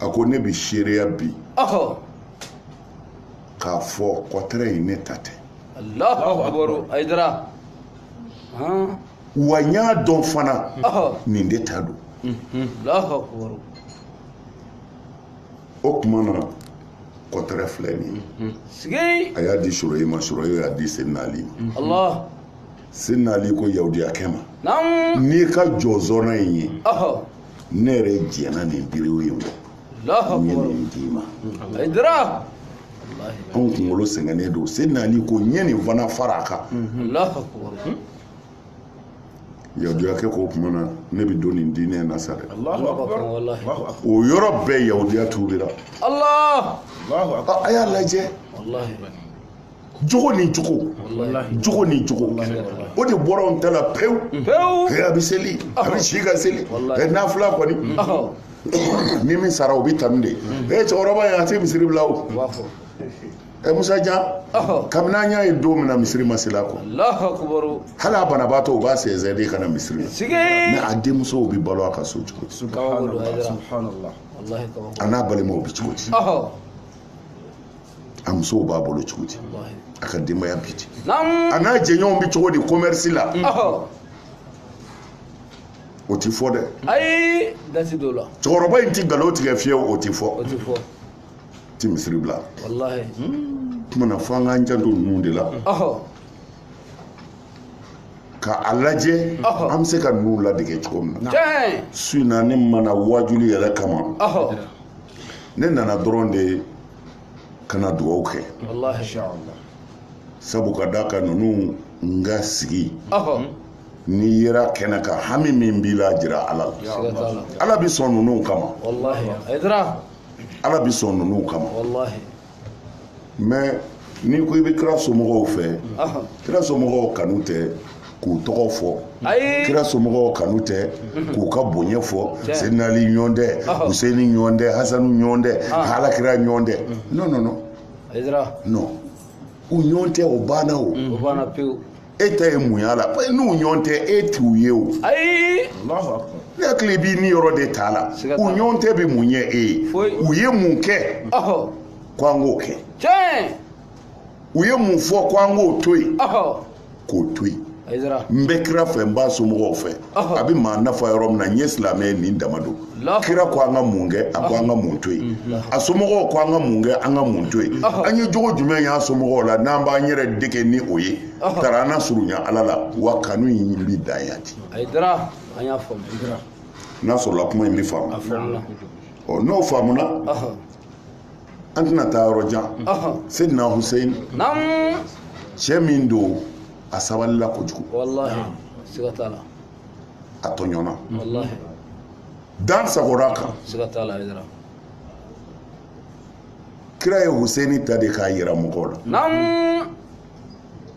a ko ne bɛ seereya bi k'a fɔ kɔtɛrɛ in ne ta tɛ wa n y'a dɔn fana nin de ta don o tuma na kɔtɛrɛ filɛ nin ye a y'a di suroye ma suroye y'a di seydina ali ma seydina ali ko yahudiyakɛ ma n'i ka jɔzɔrɔ in ye ne yɛrɛ jɛnna nin diriwu in kɔ n ye nin d'i ma anw kunkolo sɛgɛnnen don seydina ali ko n ye nin fana fara a kan yahudiyakɛ ko o tuma na ne bɛ don nin diinɛ na sa dɛ o yɔrɔ bɛɛ yahudiya tuubira a y'a lajɛ jogo ni jogo jogo ni jogo o de bɔra anw ta la pewu pewu a bɛ seli a bɛ si ka seli nafila kɔni ni min sara o bɛ tanu de ee cɛkɔrɔba in a tɛ misiri bila o ɛ musa jan kabini an y'a ye don min na misiri ma seli a kɔ hali a banabaatɔ u b'a sɛnsɛn de ka na misiri la mɛ a denmusow bɛ balo a ka so cogo di a n'a balimaw bɛ cogo di a musow b'a bolo cogo di a ka denbaya bi di a n'a jɛɲɔgɔnw bɛ cogo di commerce la o ti fɔ dɛ ayi da ti don o la cɛkɔrɔba in ti nkalon tigɛ fiyewu o ti fɔ o ti fɔ a ti misiri bila walahi o tuma na fo an k'an janto ninnu de la ka a lajɛ an bɛ se ka ninnu ladege cogo min na su in na ne ma na waajuli yɛrɛ kama ne nana dɔrɔn de ka na dugaw kɛ sabu ka d'a kan ninnu n ka sigi n'i yera kɛnɛ kan hami min b'i la a jira ala la ala bɛ sɔn ninnu kama ala bɛ sɔn ninnu kama mɛ n'i ko i bɛ kira somɔgɔw fɛ kira somɔgɔw kanu tɛ k'u tɔgɔ fɔ kira somɔgɔw kanu tɛ k'u ka bonya fɔ senali ɲɔgɔn tɛ huseni ɲɔgɔn tɛ hasanu ɲɔgɔn tɛ ala kira ɲɔgɔn tɛ non non non non u ɲɔgɔn tɛ o banna o e ta ye mun y'a la n'u ɲɔgɔn tɛ e t'u ye o ayi ne hakili b'i ni yɔrɔ de t'a la u ɲɔgɔn tɛ bɛ mun ye e ye u ye mun kɛ ko an k'o kɛ u ye mun fɔ ko an k'o to yen k'o to yen n bɛ kira fɛ n b'a somɔgɔw fɛ a bɛ maa nafa yɔrɔ min na n ye silamɛ ye nin dama don kira ko an ka mun kɛ a ko an ka mun to yen a somɔgɔw ko an ka mun kɛ an ka mun to yen an ye jogo jumɛn y'a somɔgɔw la n'an b'an yɛrɛ dege ni o ye tara an na surunya ala la wa kanu in bɛ dan yan ten n'a sɔrɔla kuma in bɛ faamu ɔ n'o faamuna an tɛna taa yɔrɔ jan seyidina huseyin cɛ min don a sabalila kojugu a tɔɲɔna dan sagora a kan kira ye huseyini ta de k'a yira mɔgɔw la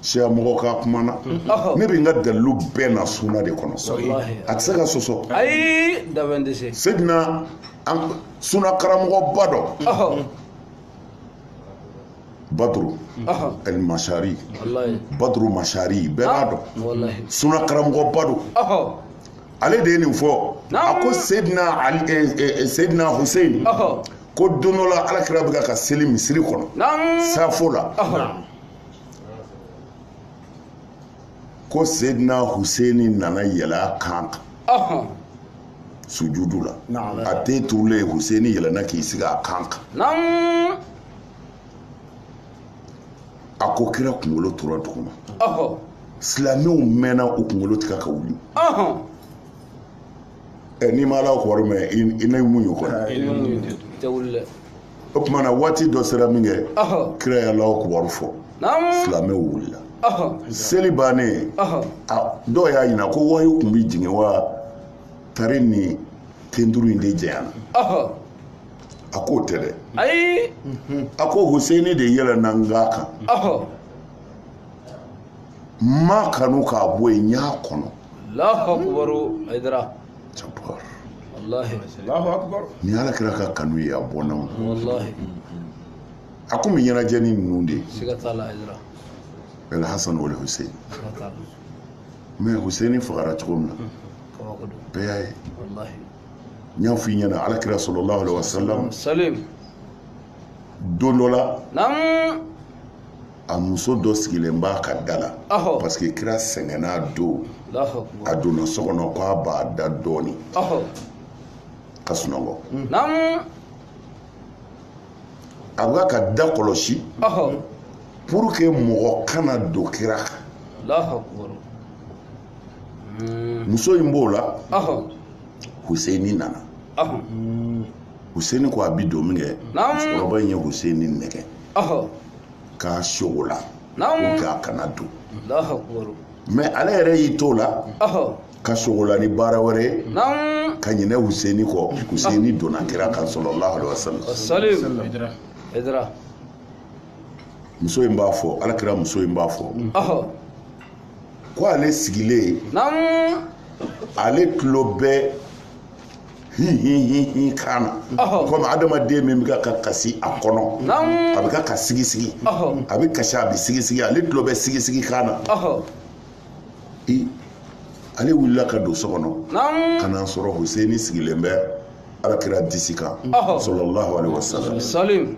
siya mɔgɔ ka kuma na ne bɛ n ka dalu bɛɛ na suna de kɔnɔ a tɛ se ka sɔsɔ ayi da tɛ se suna karamɔgɔba don badu masari badu masari bɛɛ b'a dɔn suna karamɔgɔba don ale de ye nin fɔ a ko seyidina huseyin ko don dɔ la alakira bɛ ka seli misiri kɔnɔ safo la ko sedina huseni nana yɛlɛn a kan kan sujudu la a ten turulen huseni yɛlɛna k'i sigi a kan kan a ko kira kunkolo tora duguma silamɛw mɛnna u kunkolo tɛ ka wuli ɛ n'i ma alahu akibaru mɛn i n'i muɲu o kɔnɔ i b'i muɲu dɛ i tɛ wuli dɛ o tuma na waati dɔ sera min kɛ ɔhɔ kira ye alahu akibaru fɔ naamu silamɛw wulila ɔhɔ seli bannen ɔhɔ a dɔw y'a ɲininka ko wayu kun bɛ jigin wa tari ni tenturu in de janyana ɔhɔ a k'o tɛ dɛ ayi a ko huseni de yɛlɛnna n kan kan ɔhɔ m'a kanu k'a bɔ yen n y'a kɔnɔ ni ala kira ka kanu ye a bɔnnaw a kun bɛ ɲɛnajɛ ni ninnu de ye alhasan wale husein mɛ huseini fagara cogo min na bɛɛ y'a ye n y'a f'i ɲɛna ala kira salalahu alaihi wasalam don dɔ la a muso dɔ sigilen b'a ka da la parce que kira sɛgɛnnen don a donna so kɔnɔ k'a b'a da dɔɔni ka sunɔgɔ a b'a ka da kɔlɔsi pour que mɔgɔ kana don kira kan hmm. muso in b'o la huseini nana huseini ko a bi don min kɛ musokɔrɔba in ye huseini nɛgɛn k'a sogola k'a kana don mais ale yɛrɛ y'i t'o la ka sogola ni baara wɛrɛ ye ka ɲinɛ huseini kɔ huseini donna kira kan sallallahu alaihi wasallam muso in b'a fɔ ala kira muso in b'a fɔ ko ale sigilen ale tulo bɛ hinhinhinhin kan na komi adamaden min bɛ ka kasi a kɔnɔ a bɛ ka ka sigisigi a bɛ kasi a bɛ sigisigi ale tulo bɛ sigisigi kan na ale wulila ka don so kɔnɔ ka na sɔrɔ huseini sigilen bɛ alakira disi kan sallallahu alaihi wasallam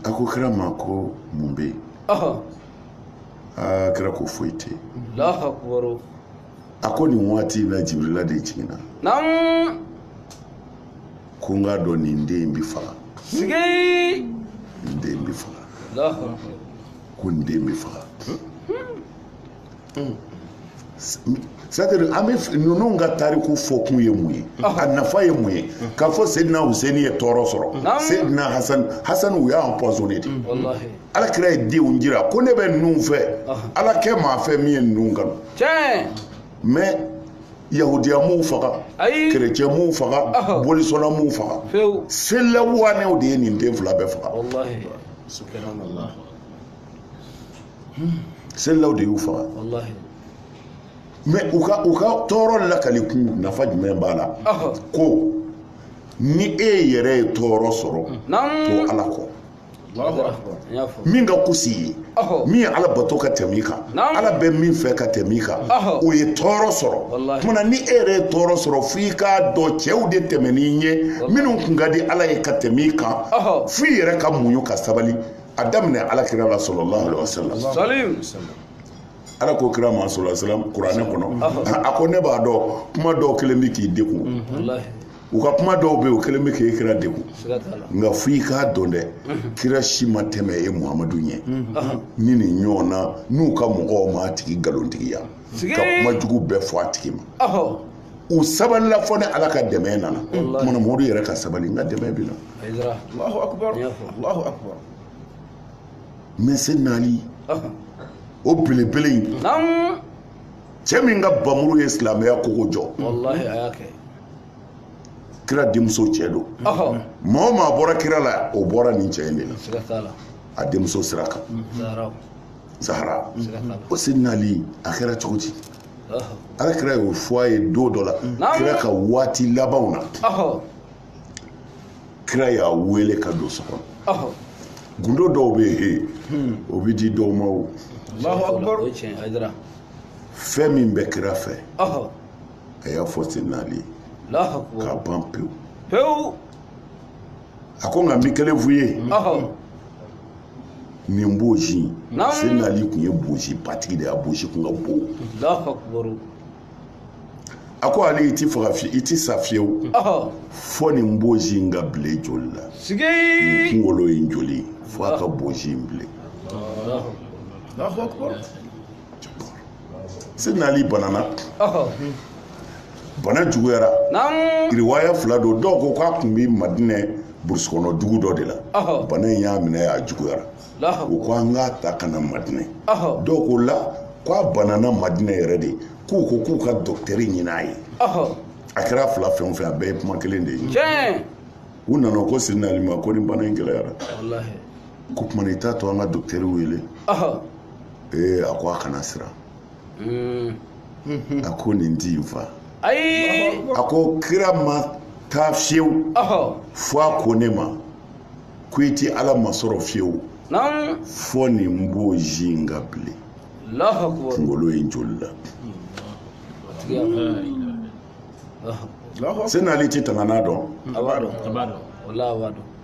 a ko kira ma ko mun bɛ yen aa kira ko foyi tɛ yen a ko nin waati in na jibirila de jiginna naamu ko n k'a dɔn nin den in bɛ faga sigi nin den in bɛ faga Allahu akbar. ko nin den bɛ faga c'est-à-dire an bɛ f- ninnu ka tariku fɔkun ye mun ye a nafa ye mun ye k'a fɔ sedina huseini ye tɔɔrɔ sɔrɔ Naamu. sedina hasan u y'a empoisonné de wallahi ala kira ye denw jira ko ne bɛ ninnu fɛ ala kɛ maa fɛ min ye ninnu kanu mais yahudiya m'u faga kerecɛn m'u faga bolisɔnna m'u faga sela waanɛw de ye nin den fila bɛɛ faga selilaw de y'u faga mais u ka u ka tɔɔrɔ lakali kun nafa jumɛn b'a la ko ni e yɛrɛ ye tɔɔrɔ sɔrɔ to ala kɔ min ka kus'i ye min ye ala bato ka tɛm'i kan ala bɛ min fɛ ka tɛm'i kan o ye tɔɔrɔ sɔrɔ tuma ni e yɛrɛ ye tɔɔrɔ sɔrɔ fo i k'a dɔn cɛw de tɛmɛn'i ɲɛ minnu kun ka di ala ye ka tɛm'i kan fo i yɛrɛ ka muɲu ka sabali a daminɛ ala kira la sallallahu alaihi wasallam ala ko kira ma sallallahu alaihi wasallam kuranɛ kɔnɔ a ko ne b'a dɔn kuma dɔw kɛlen bɛ k'i degun u ka kuma dɔw bɛ yen o kɛlen bɛ k'e kira degun nka fo i k'a dɔn dɛ kira si ma tɛmɛ e muhamadu ɲɛ ni nin ɲɔgɔn na n'u ka mɔgɔw m'a tigi nkalontigiya ka kuma jugu bɛɛ fɔ a tigi ma u sabalila fo ni ala ka dɛmɛ nana ko muhamadu yɛrɛ ka sabali n ka dɛmɛ bɛ na mɛ sidina ali o belebele in cɛ min ka bamuru ye silamɛya kogo jɔ kira denmuso cɛ don maa o maa bɔra kira la o bɔra nin cɛ in de la a denmuso sira kan zahara o sidina ali a kɛra cogo di ala kira y'o fɔ a ye don dɔ la kira ka waati labanw na kira y'a wele ka don so kɔnɔ gundo dɔw bɛ yen hmm. o bɛ di dɔw ma o fɛn min bɛ kira fɛ a y'a fɔ sidina ali ye k'a ban pewu pewu a ko nka n bɛ kelen f'i ye nin bonsi sidina ali tun ye bonsibatigi de ye a bonsi tun ka bon a ko ali i ti faga fiye i ti sa fiyewu fo nin bonsi in ka bilen joli la nin kunkolo in joli fo a ka bonsi in bilen sidina ali banana bana juguyara riwaya fila don dɔw ko k'a tun bɛ madinɛ burusi kɔnɔ dugu dɔ de la bana in y'a minɛ a juguyara u ko an k'a ta ka na madinɛ dɔw ko la k'a banana madinɛ yɛrɛ de k'u ko k'u ka dɔkitɛri ɲini a ye a kɛra fila fɛn o fɛn a bɛɛ ye kuma kelen de ye u nana ko sidina ali ma ko ni bana in gɛlɛyara k'o tuma i t'a to an ka dɔkitɛri wele ee a ko a kana siran hmm. a ko nin ti n fa ayi a ko kira ma taa fiyewu fo a ko ne ma ko i ti ala masɔrɔ fiyewu fo nin bonsi in ka bilen kunkolo in joli la sidina ali ti tanga n'a dɔn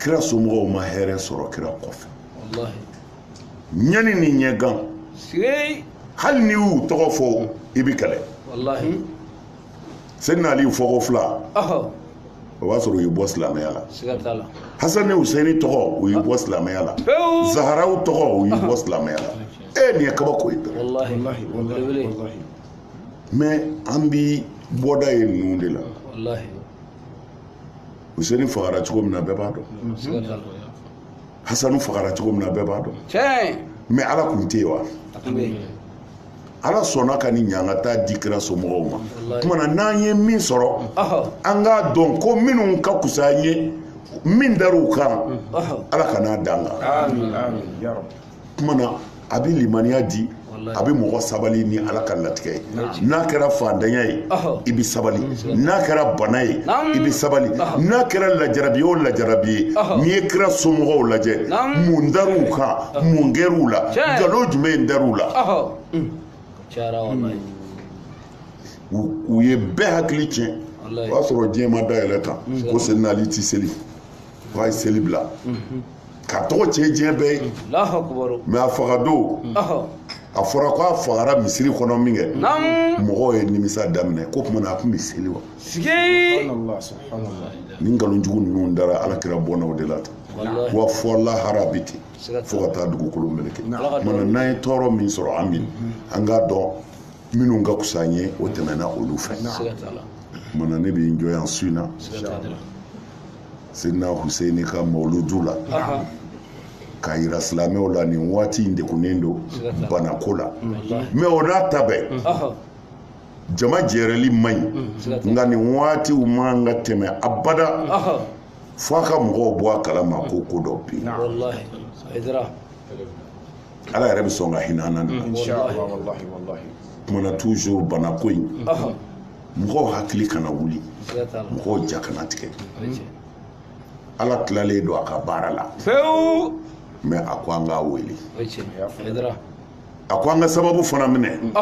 kira somɔgɔw ma hɛrɛ sɔrɔ kira kɔfɛ ɲani ni ɲɛgan hali n'i y'u tɔgɔ fɔ i bɛ kɛlɛ sidina ali fɔko fila o b'a sɔrɔ u y'i bɔ silamɛya la hasan ni husɛni tɔgɔ u y'i bɔ silamɛya la zaharaw tɔgɔ u y'i bɔ silamɛya la e nin ye kabako ye mɛ an bi bɔda ye ninnu de la useni fagara cogo min na bɛɛ b'a dɔn hasanu fagara cogo min na bɛɛ b'a dɔn mɛ ala kun tɛ yen wa ala sɔnna ka nin ɲangata di kira somɔgɔw ma kumana n'an ye min sɔrɔ an k'a dɔn ko minnu ka kusa an ye min dar'u kan ala kan'a d'an kan kuma na a bɛ limaniya di a bɛ mɔgɔ sabali ni ala ka latigɛ ye n'a kɛra fantanya ye i bɛ sabali n'a kɛra bana ye i bɛ sabali n'a kɛra lajarabi o lajarabi ye n'i ye kira somɔgɔw lajɛ mun dar'u kan mun kɛr'u la nkalon jumɛn in dar'u la u ye bɛɛ hakili tiɲɛ o y'a sɔrɔ diɲɛ ma dayɛlɛ tan ko sena ali tɛ seli a ye seli bila k'a tɔgɔ tiɲɛ diɲɛ bɛɛ ye mɛ a faga don a fɔra ko a fagara misiri kɔnɔ min kɛ mɔgɔw ye nimisa daminɛ ko tuma na a tun bɛ seli wa nin nkalonjugu ninnu dara ala kira bɔnnaw de la tan wa fo lahara bɛ ten fo ka taa dugukolo meleke mana n'an ye tɔɔrɔ min sɔrɔ an min an k'a dɔn minnu ka kusa an ye o tɛmɛna olu fɛ mana ne bɛ n jɔ yan su in na sena huseni ka mawuludu la k'a yira silamɛw la nin waati in degunnen don banako la mɛ o n'a ta bɛɛ jama jɛrɛli man ɲi nka nin waatiw man ka tɛmɛ abada fo a ka mɔgɔw bɔ a kalama ko ko dɔ bɛ yen ala yɛrɛ bɛ sɔn ka hinɛ an na kumana toujours banako in mɔgɔw hakili kana wuli mɔgɔw ja kana tigɛ ala tilalen don a ka baara la pewu mɛ a ko an k'a wele a ko an ka sababu fana minɛ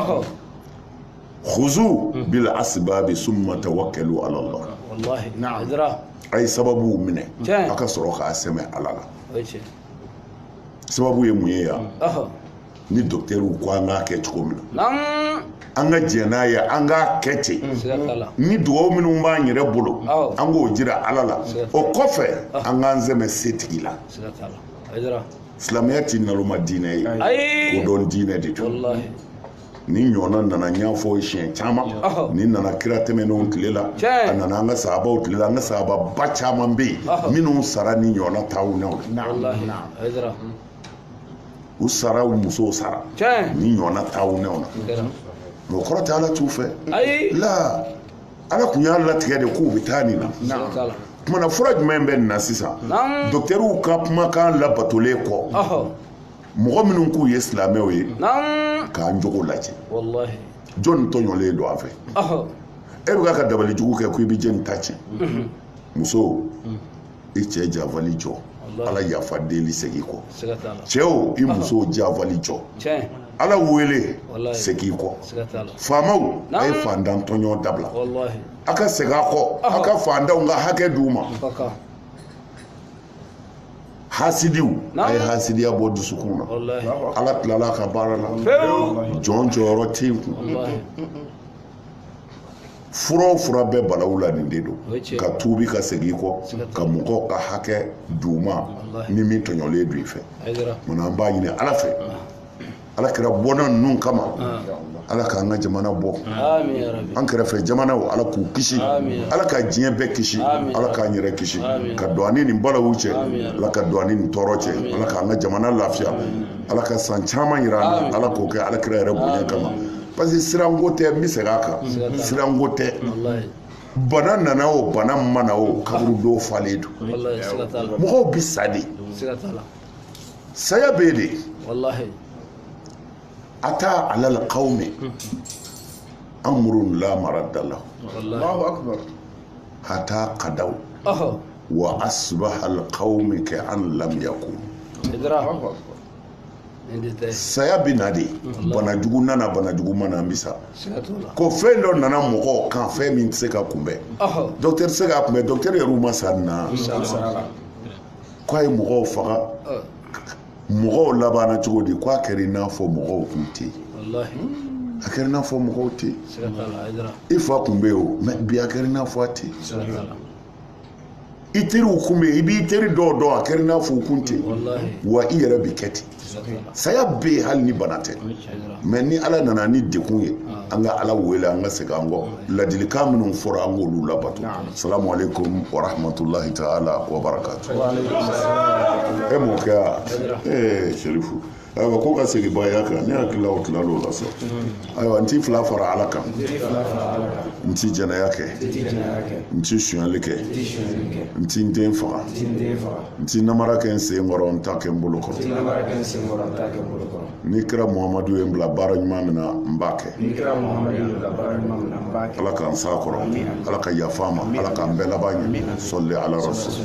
khuzu hmm. bil asbabi summa tawakkalu ala allah wallahi na'am a ye sababuw minɛ a ka sɔrɔ k'a sɛmɛ ala la sababu ye mun ye yan hmm. ni dɔkitɛriw ko an k'a kɛ cogo min na an ka jɛn n'a ye an k'a kɛ ten ni dugawu minnu b'an yɛrɛ bolo an k'o jira ala la o kɔfɛ an k'an sɛmɛ setigi la silamɛya tɛ naloma diinɛ ye kodɔn diinɛ de don nin ɲɔgɔnna nana n y'a fɔ a ye siɲɛ caman nin nana kira tɛmɛnenw tile la a nana an ka sahabaw tile la an ka sahababa caman bɛ yen minnu sara nin ɲɔgɔnna taawunaw la u sara u musow sara nin ɲɔgɔnna taawunɛw na mɛ o kɔrɔ tɛ ala t'u fɛ la ala kun y'a latigɛ de k'u bɛ taa nin na kuma na fura jumɛn bɛ nin na sisan dɔkitɛriw ka kumakan labatolen kɔ mɔgɔ minnu k'u ye silamɛw ye k'an jogo lajɛ jɔnni tɔɲɔlen don an fɛ e bɛ ka dabali jugu kɛ ko i bɛ jɛni ta tiɲɛ muso i cɛ janfali jɔ ala yafa deli segin kɔ cɛw i muso janfali jɔ ala wele segin kɔ faamaw a ye fantan tɔɲɔ dabila a ka segin a kɔ a ka fantanw ka hakɛ d'u ma hasidiw a ye hasidiya bɔ dusukun na ala tilala a ka baara la jɔn jɔyɔrɔ tɛ yen kun fura o fura bɛ balawu la nin de don ka tuubi ka segin kɔ ka mɔgɔw ka hakɛ d'u ma ni min tɔɲɔlen don i fɛ munna an b'a ɲini ala fɛ ala kira bɔnna ninnu kama ala k'an ka jamana bɔ an kɛrɛfɛ jamanaw ala k'u kisi ala ka diɲɛ bɛɛ kisi ala k'an yɛrɛ kisi ka don ani nin balawu cɛ ala ka don ani nin tɔɔrɔ cɛ ala k'an ka jamana lafiya ala ka san caman yira an na ala k'o kɛ ala kira yɛrɛ bonya kama parce que siranko tɛ n bɛ segin a kan siranko tɛ bana nana o bana ma na o kaburu dɔw falen don mɔgɔw bɛ sa de saya bɛ yen de ata alal kawmi amurun la marada lahu hata kadaw wa asibahal kawmi ka an lam yakun saya bɛ na de bana jugu nana bana jugu ma na an bɛ sa ko fɛn dɔ nana mɔgɔw kan fɛn min tɛ se ka kunbɛn dɔkitɛri tɛ se ka kunbɛn dɔkitɛri yɛrɛ ma sa na ko a ye mɔgɔw faga mɔgɔw labanna cogo di k'a kɛra i n'a fɔ mɔgɔw kun tɛ yen a kɛra i n'a fɔ mɔgɔw tɛ yen i fa kun bɛ yen o mɛ bi a kɛra i n'a fɔ a tɛ yen i teriw kun bɛ yen i b'i teri dɔw dɔn a kɛra i n'a fɔ u kun tɛ yen wa i yɛrɛ bɛ kɛ ten saya bɛ yen hali ni bana tɛ mɛ ni ala nana ni degun ye an ka ala wele an ka segin an kɔ ladilikan minnu fɔra an k'olu labato salamu aleykum wa rahmatulahi taala wa barakatu e mɔkɛ ee serifu ayiwa ko ka segin baya kan ne hakili la o tilal'o la sa ayiwa n ti fila fara ala kan n ti jɛnɛya kɛ n ti sonyali kɛ n ti n den faga n ti namara kɛ n sen kɔrɔ n t'a kɛ n bolo kɔrɔ ni kira muhamadu ye n bila baara ɲuman min na n b'a kɛ ala k'an s'a kɔrɔ ala ka yafa an ma ala k'an bɛɛ laban ɲɛ sɔli ala rasul